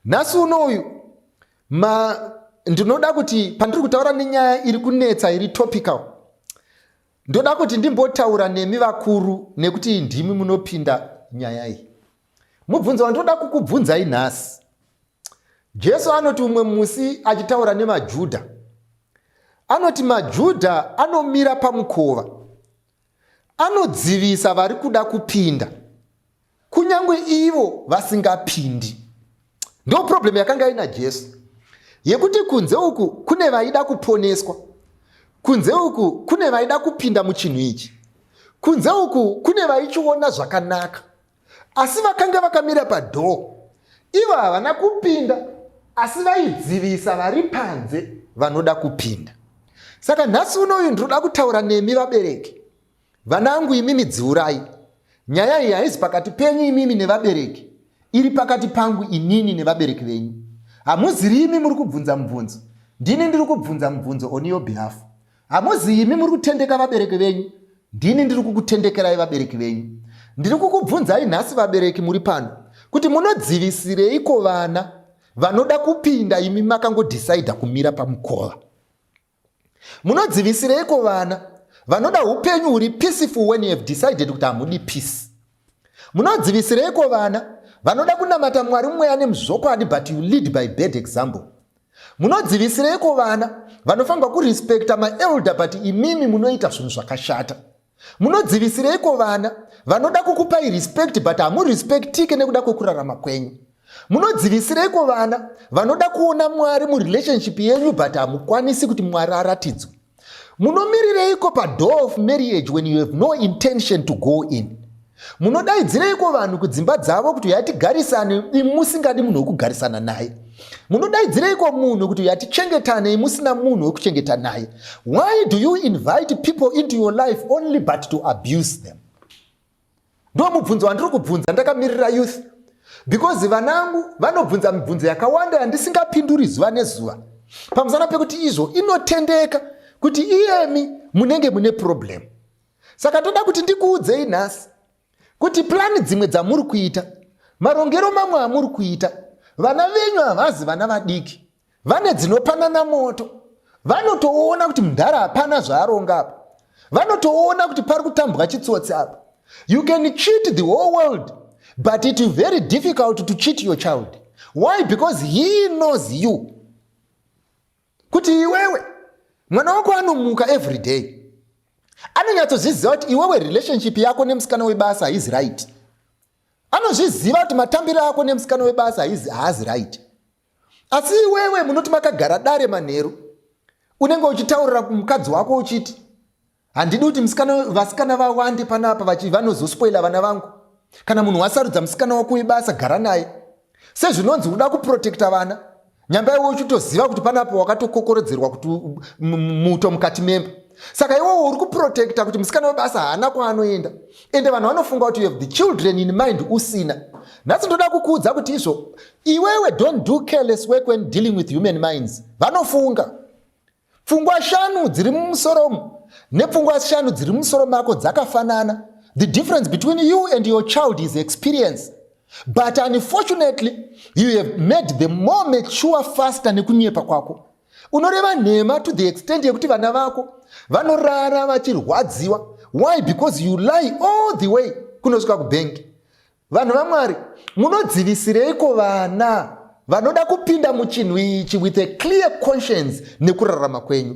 nhasi uno uyu ma ndinoda kuti pandiri kutaura nenyaya iri kunetsa iri topical ndoda kuti ndimbotaura nemi vakuru nekuti ndimi munopinda nyaya iyi mubvunzo wandinoda kukubvunzai nhasi jesu anoti umwe musi achitaura nemajudha anoti majudha anomira pamukova Anodzivisa vari kuda kupinda, kunyange ivo vasingapindi. Ndo problem yakanga ina Jesu yekuti kunze uku kune vaida kuponeswa, kunze uku kune vaida kupinda muchinhu ichi, kunze uku kune vaichiona zvakanaka, asi vakanga vakamira padhoo ivo havana kupinda asi vaidzivisa vari panze vanoda kupinda saka nhasi uno uyu ndinoda kutaura nemi vabereki vana angu imimi dziurai nyaya iyi haizi pakati penyu imimi nevabereki iri pakati pangu inini nevabereki venyu hamuziri imi muri kubvunza mubvunzo ndini ndiri kubvunza mubvunzo on your behalf Hamuzi imi muri kutendeka vabereki venyu, ndini ndiri kukutendekerai vabereki venyu. Ndiri kukubvunzai nhasi vabereki muri pano kuti munodzivisireiko vana vanoda kupinda imi makangodhisaidha kumira pamukova? Munodzivisireiko vana vanoda upenyu huri peaceful when you have decided kuti hamudi peace? Munodzivisireiko vana vanoda kunamata Mwari mweya nemuzvokwadi but you lead by bad example. Munodzivisireiko vana vanofanirwa kurespecta maelder but imimi munoita zvinhu zvakashata. Munodzivisireiko vana vanoda kukupai respect but hamurespectike nekuda kwekurarama kwenyu. Munodzivisireiko vana vanoda kuona Mwari murelationship yenyu but hamukwanisi kuti Mwari aratidzwe. munomirireiko padoor of marriage when you have no intention to go in munodaidzireiko vanhu kudzimba dzavo kuti uyatigarisane imusingadi munhu wekugarisana naye munodaidzireiko munhu kuti uyatichengetane imusina munhu wekuchengeta naye why do you invite people into your life only but to abuse them ndo mubvunzo wandiri kubvunza ndakamirira youth because vanangu vanobvunza mibvunzo yakawanda yandisingapinduri zuva nezuva pamusana pekuti izvo inotendeka kuti iyemi munenge mune problem saka toda kuti ndikuudzei nhasi kuti plani dzimwe dzamuri kuita marongero mamwe amuri kuita vana venyu havazi vana vadiki vane dzinopanana moto vanotoona kuti mudhara hapana zvaaronga apa vanotoona kuti pari kutambwa chitsotsi apa you can cheat the whole world but it very difficult to cheat your child why because he knows you kuti iwewe mwana wako anomuka every day anonyatsozviziva kuti iwewe relationship yako nemusikana webasa haizi right anozviziva kuti matambiro ako nemusikana webasa haazi right asi iwewe munoti makagara dare manheru unenge uchitaurira mukadzi wako uchiti handidi kuti vasikana vawande panapa vachi vanozospoila vana vangu kana munhu wasarudza musikana wako webasa gara naye sezvinonzi uda kuprotekta vana nyamba iwe uchitoziva kuti panapa wakatokokorodzerwa kuti muto mukati memba saka iwewo uri kuprotekta kuti musikana webasa haana kwaanoenda ende vanhu vanofunga kuti you have the children in mind usina nhasi ndoda kukuudza kuti izvo Iwewe don't do careless work when dealing with human minds. Vanofunga. Pfungwa shanu dziri mumusoro nepfungwa shanu dziri mumusoro mako dzakafanana. The difference between you and your child is experience. But unfortunately, you have made the more mature faster nekunyepa kwako. Unoreva nhema to the extent yekuti vana vako vanorara vachirwadziwa. Why? Because you lie all the way kunosvika kubhengi. Vanhu vaMwari, munodzivisireiko vana vanoda kupinda muchinhu ichi with a clear conscience nekurarama kwenyu?